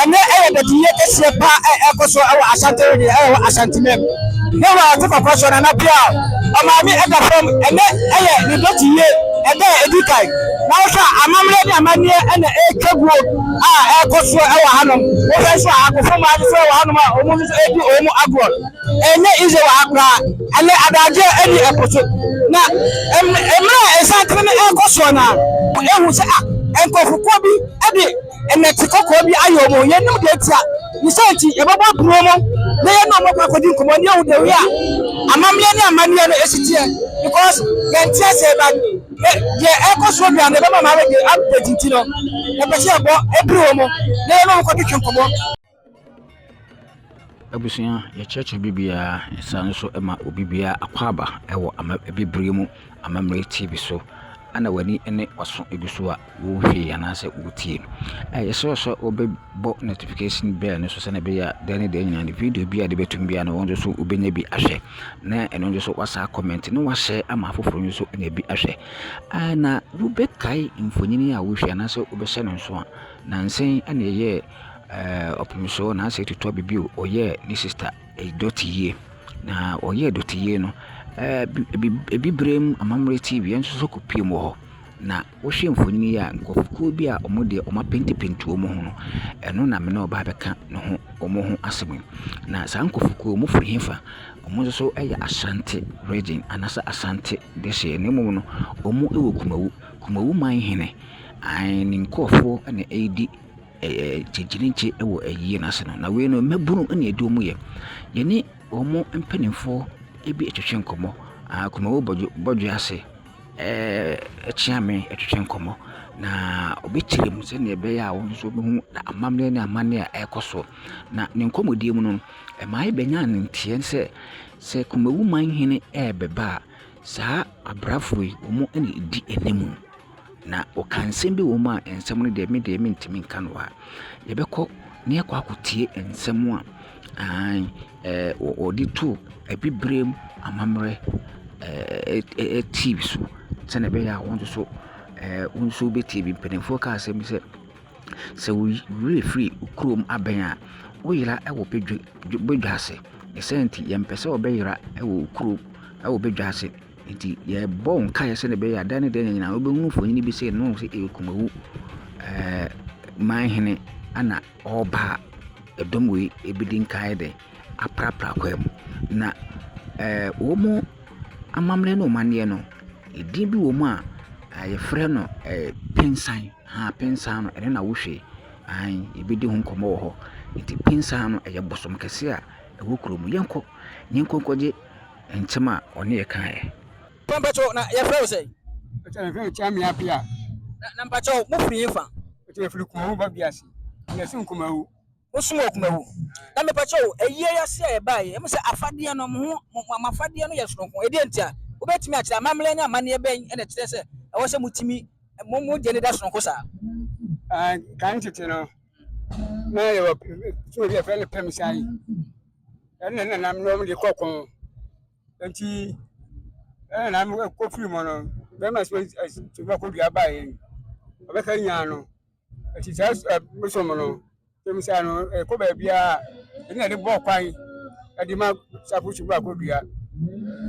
Ɛnnɛ ɛyɛ dadiyɛ kɛseɛ pa a ɛrekɔ so wɔ Asante region a ɛwɔ Asante mam. Ne wɔ ate kɔkɔ so Nana Bial Ɔmaame ɛda fam. Ɛnnɛ ɛyɛ ne dadiyɛ ɛda a ɛdi kan. Na wohwɛ a amammerɛ ne amanneɛ na ɛretwa guo a ɛrekɔ so wɔ hanom. Wohwɛ nso a akofo mmaa bi nso wɔ hanom a wɔn nso redi wɔn agorɔ. Ɛnyɛ easy wɔ ha koraa. Ɛnnɛ adagyeɛ ɛne ɛpo so. Na mmerɛ a nsantene no ɛrekɔ soɔ no ara, wohu sɛ ah nkorɔfokuo bi de. nnɛte kɔkɔɔ bi ayɛ wɔn. Yɛnnim deɛ nti a, ne saa nti yɛbɛbɔ apono mu na yɛne wɔn akɔ akɔdi nkɔmmɔ ne yɛhu the way a amammerɛ ne amanneɛ no ɛsi teɛ because yɛnte aseɛ but yɛ deɛ ɛrekɔ soɔ bia no ɛbɛma wɔn awɛde update nti no yɛpɛ sɛ yɛbɔ ɛpere wɔn na yɛne wɔn kɔtwetwe nkɔmmɔ. Abusua, yɛkyerɛkyerɛ biribiara. Yɛsane nso ma obiara akwaaba wɔ ama Abibire mu amammerɛ TV so. Ɛna w'ani ne w'aso gu so a wohwɛ yi anaasɛ wotie. Yɛsrɛ wo sɛ wobɛbɔ notification bell no so sɛdeɛ ɛbɛyɛ a da ne da nyinaa no video biara a yɛde bɛto mu biara no wo nso wobɛnya bi ahwɛ. Na ɛno nso so woasan akɔmmɛnte na woahyɛ ama afoforɔ nso anya bi ahwɛ. Na wobɛkae mfonini a wohwɛ anaasɛ wobɛhyɛ no nso a, nnansa yi na yɛyɛɛ Ɛɛ ɔpem so na asɛ tutu aba bio ɔyɛɛ ne sista dɔte yie na ɔyɛɛ dɔte yie no ɛɛ ebi ebibire mu amammerɛ ti wia nso so kɔpue mu wɔ hɔ na wohwɛ mfonin yi a nkorɔfokuo bi a wɔn deɛ wɔn apentepente wɔn ho no ɛno na me ne wo ba abɛka ne ho wɔn ho asɛm yi na saa nkorɔfokuo yi wɔn firi hefa wɔn nso so yɛ Asante region anaasɛ Asante dehyeɛ na mmom no wɔn wɔ Kumawu Kumawu man hene aane ne nkorɔfoɔ na ɛredi. gyegyenegye wɔ ayie no ase no. Na wei no mmabunu na ɛdi wɔn yɛ. Yɛne wɔn mpanimfoɔ bi twetwe nkɔmmɔ. Akunafoɔ bɔ bɔ dwa ase kyea me twetwe nkɔmmɔ. Na wɔbɛkyerɛ mu sɛdeɛ ɛbɛyɛ a wɔn nso bɛhu amammerɛ ne amanneɛ a ɛrekɔ so. Na ne nkɔmmɔdie mu no, ɛma yɛbɛnya nteɛ sɛ, sɛ Kumawu manhene rebɛba a, saa abrafoɔ yi wɔn na ɛdi anim. Na ɔkaa nsɛm bi wɔ mu a nsɛm no deɛ me deɛ mentumi nka no wɔ ha. Yɛbɛkɔ na yɛakɔ akɔtie nsɛm a aane ɛɛ wɔde too Abibirem amammerɛ ɛɛɛ TV so sɛdeɛ ɛbɛyɛ a wo nso so ɛɛ wo nso wobɛtie bi. Mpanimfoɔ kaa asɛm bi sɛ, sɛ wo werɛ firi wo kurom abɛn a, woyera wɔ badwa badwa ase. Ne saa nti yɛmpɛ sɛ wobɛyera wɔ wo kurom wɔ badwa ase. Nti yɛbɔ wo nkaeɛ sɛdeɛ ɛbɛyɛ a da ne da nyinaa wobɛhunu mfonin bi sɛ yɛnoo sɛ ɛyɛ Kumawu ɛɛ manhene na ɔreba a, ɛdɔm wei ɛbɛdi nkaeɛ dɛ aprapra kwaa mu. Na ɛɛ wɔn amammerɛ ne wɔn amanneɛ no, ɛdin bi wɔ mu a yɛfrɛ no ɛɛ pensan, haa pensan no ɛno na wohwɛ yi. Aane, yɛbɛdi ho nkɔmmɔ wɔ hɔ. Nti pensan no ɛyɛ bosom kɛse a ɛwɔ kurom. Yɛnkɔ, yɛnkɔ nkɔgye. nsɛm a ɔne yɛ kaeɛ. Pa mpakyɛw, na yɛfrɛ wo sɛn? Ɔkyena yɛfrɛ me Kyami Appiah. Na na mpakyɛw, mo firi he fa? Ɔkyena yɛfiri Kumawu Babiase, na yɛsom Kumawu. Mo som wɔ Kumawu. Na mepakyɛw, ayie yi ase a yɛbaeɛ, yɛhu sɛ afadeɛ no, mo ho, mo, mo afadeɛ no yɛ sononko. Ɛdeɛn ntia? Wobɛtumi akyerɛ, amammerɛ ne amanneɛ bɛn na ɛkyerɛ sɛ ɛwɔ sɛ motumi, mo, mo deɛ no da sononko saa? Ah, kan tete no, na yɛwɔ, eh, fie bi a yɛfrɛ no Pɛmsae. ɛne nenam nom de kɔ ko nti nenam kɔfiri mu no bɛrima so tumi bɛkɔdua baeɛ ɔbɛka nyaa no ɛti saa bosom no tɛmisa no ɛkɔ baabiaa ɛne ɛde bɔɔ kwan ɛde ma safo so bɛkɔdua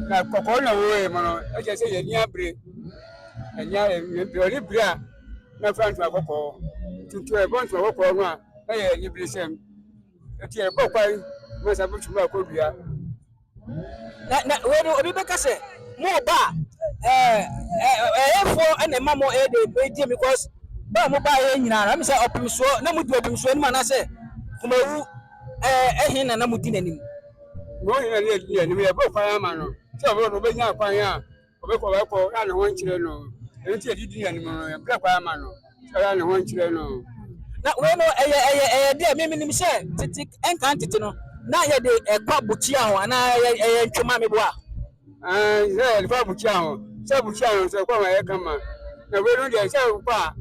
na kɔkɔɔ na wɔɛ mu no ɛkyɛ sɛ yɛni abere ɛnya ɛne bere a na fra ntoma kɔkɔɔ tutu ɛbɔ ntoma kɔkɔɔ no a na yɛ anibere sɛm Enti yɛn kɔ kwan mɛ sɛ bɛtumi akɔ dua. Na na wei no obi bɛka sɛ mo ba ɛɛ ɛyɛfoɔ ɛna ɛma mo ɛyɛ de ɛgye mi kɔs ba mo ba yɛ nyinaa na mi sɛ ɔpemsoɔ na mo di ɔpemsoɔ anim anaasɛ kumawu ɛɛ ɛhe na na mo di n'anim. Wɔn nyinaa yɛ di anim yɛ bɔ kwan ama no sɛ ɔbɛwɔ no ɔbɛnya kwan a Ɔbɛkɔ ɔbɛkɔ na ne ho nkyerɛ no ɛno nti yɛde di n'anim no yɛbrɛ kwan ama no na ne ho nkyerɛ no. Na wei no ɛyɛ ɛyɛ ɛyɛ deɛ me menim sɛ tete ɛnkan tete no na yɛde ɛkɔ bukyia ho anaa ɛyɛ ɛyɛ ntwoma meboa. Ɛɛ sɛ yɛde fa bukyia ho sɛ bukyia no sɛ ɛkɔ ma ɛyɛ kama na wei no deɛ sɛ wokɔ a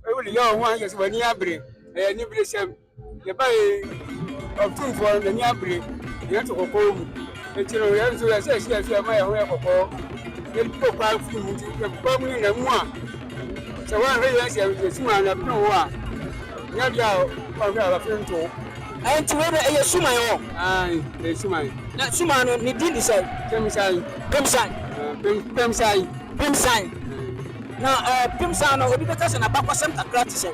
ɛwɔ de yɛ wɔn ho ayɛ sɛ w'ani abere ɛyɛ ne bere sɛm. Yɛbaeɛ yi, Ɔtumfoɔ no, n'ani abere, na yɛn nso kɔkɔɔ mu. Enti no, yɛn nso yɛsɛ ɛhyɛ yɛn so yɛma yɛn ho yɛ kɔkɔɔ, na yɛde bɔ paa firi mu. Nti yɛkɔ paa mu no nyinaa mu a, sɛ wɔanhwɛ yɛn sɛ yɛasum a, na ɛpono hɔ a, nyɛ adeɛ a wɔanhwɛ a wɔafiri nto. Enti wei no, ɛyɛ suman hɔ? Aane, ɛyɛ suman. Na suman no, ne din de sɛn? Pemsan. Pemsan? Pem, Pemsan. Pemsan. Na ɛɛ, Pemsan no, obi bɛka sɛ n'abakɔsɛm kakra te sɛn?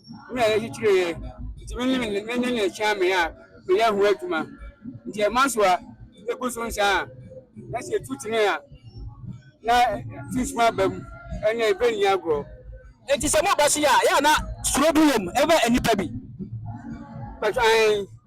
na ɛyɛ titire yɛ nti me ne ne ne ne kyɛn me a meyɛ ho adwuma nti ɛma so a ɛgu so nsa a na sɛ ɛtu tene a na sunsum aba mu ɛna ɛbɛ nni agorɔ Enti sɛ mo ba si a, yɛ a na suro bi wom ɛma nnipa bi. But I.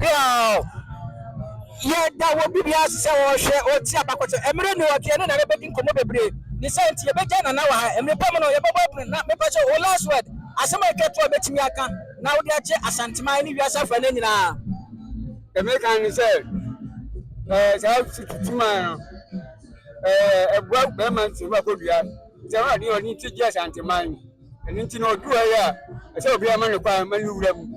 Bill yɛ da wɔ biribi ase sɛ ɔrehwɛ, ɔretie abakɔsɛm. Mmerɛ ni ɔde yɛne Nana bɛdi nkɔmmɔ bebree. Ne saa nti, yɛbɛgya Nana wɔ ha. Mmerɛ pa mu no, yɛbɛbɔ abunu na mepɛ sɛ wo last word, asɛm a ɛtwa toɔ a bɛtumi aka na wode akyɛ Asanteman ne wiase afa no nyinaa. Deɛ meka ne sɛ, ɛɛ saa sututuman no, ɛɛ ɛboa bɛrima nti ɛboa kɔdua. Nti ɛwɔ adeɛ ɔne ti gye Asanteman. Ɛno nti na ɔduru ha yi a, ɛsɛ obiara ma no kwan ma no wura mu.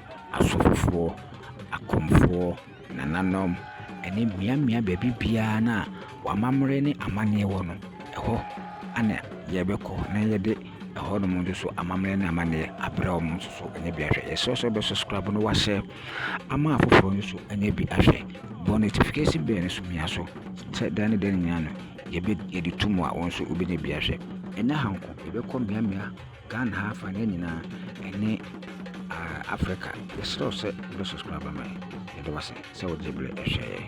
asofofoɔ, akomfoɔ, nananom, ɛne mmeammea baabi biara no a w'amammerɛ ne amanneɛ wɔ no, ɛhɔ na yɛbɛkɔ na yɛde ɛhɔnom nso so amammerɛ ne amanneɛ abrɛ wɔn nso so anya bi ahwɛ. Yɛsrɛ wo sɛ wobɛ subscribe na woahyɛ ama afoforɔ no nso anya bi ahwɛ. Bɔ notification bell no so mia so sɛ da ne da nyinaa no yɛbɛ yɛde to mu a wɔn nso wobɛnya bi ahwɛ. Ɛnyɛ ha nko, yɛbɛkɔ mmeammea Ghana ha afa ne nyinaa ɛne Africa yɛsrɛ wo sɛ wobɛ subscribe ama yɛn yɛda wo ase sɛ wode berɛ hwɛ yɛn.